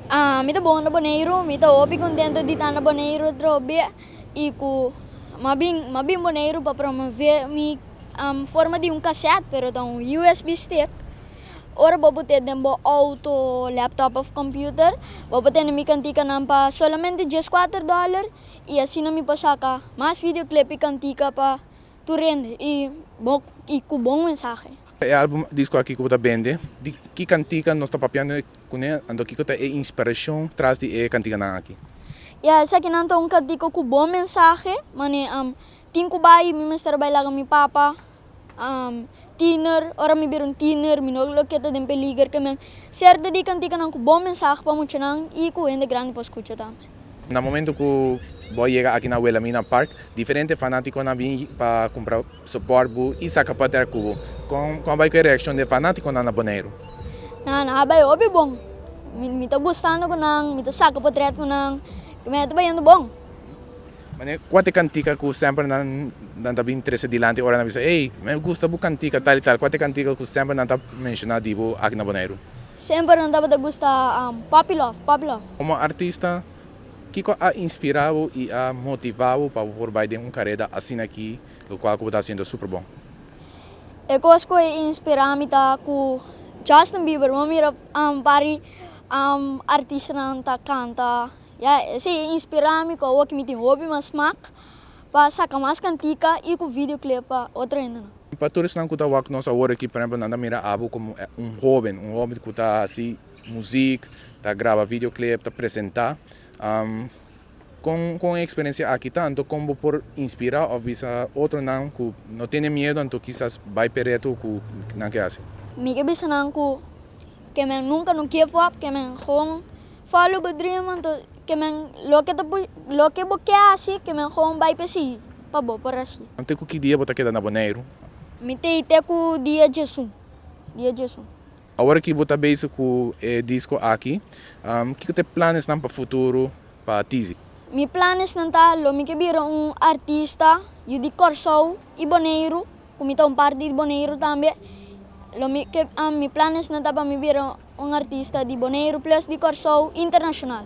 Mi ta bon na Boneiru. Mi ta hopi contento di ta na Boneiru atrobe y cu mi a bin, mi a bin Boneiru pa promov'é mi forma di un cassette, pero ta un usb stick. Ora bo put'é den bo auto, laptop of computer, bo por tene mi canticanan pa solamente dies cuater dollar y asina mi por saca mas videoclip y cantica pa tur hende y bo, y cu bon mensahe. E album disco aki ku bo ta bende, di ki kantika nos ta papiando kuné, anto kiko ta e inspirashon tras di e kantikanan aki? Ya, esakinan ta un kantika ku bon mensahe, man'é tin ku bai, mi mester bai laga mi papa, tiner, ora mi bira un tiner, mi no lo keda den peliger, ke men. Sèrto di kantikanan ku bon mensahe pa muchanan i ku hende grandi por skucha tambe. Na momento cu bo a yega aki na Wilhelmina Park, diferente fanaticonan bin pa cumpra support bo y saca pater cu bo. Con a bay cu e reaccion d'e fanaticonan na Boneiru? Nan a bay hopi bon. Mi ta gustando cu nan, mi ta saca potret cu nan y mi a ta bayendo bon. Mane, cua t'e cantica cu semper nan ta bin trece dilanti ora nan bisa, Ey, mi a gusta bo cantica tal y tal? Cua t'e cantica cu semper nan ta menciona di bo aki na Boneiru? Semper nan tabata gusta Papi Love, Papi Love. Como artista, kico a inspira bo y a motiva bo pa bo por bay den un careda asina aki, lo cual cu bo ta haciendo super bon? E cos cu a inspira mi ta cu Justin Bieber, bo a mira un par di artistanan ta canta, ya esey a inspira mi cu awo aki mi tin hopi mas smaak pa saca mas cantica y cu videoclip pa otro hendenan. Pa tur esnan ku ta wak nos awor aki, por ehempel nan ta mira Abu komo un hoben, un hoben ku ta hasi muzik, ta graba video clip, ta presentá. Kon ku un eksperensia aki ta, anto kon bo por inspirá òf bisa otronan ku no tene miedu anto kisas bai p'e reto ku nan ke hasi? Mi ke bisa nan ku ke men nunka no give up, ke men gewoon. Follow bo dream anto ke men loke ta push loke bo ke hasi ke men gewoon bai persigi pa bo por hasi. Te ku ki dia bo ta keda na Boneiru? Mi ta i te ku dia Jesu dia Jesu. Awor aki bo ta bezig ku e disko aki, kiko ta e planesnan pa futuro pa Tizi? Mi planesnan ta lo mi ke bira un artista yu di Kòrsou i Boneiru. Cu mi ta un parti di Boneiru tambe, lo mi ke mi planes nan ta pa mi bira un artista di Boneiru plus di Corsou internacional.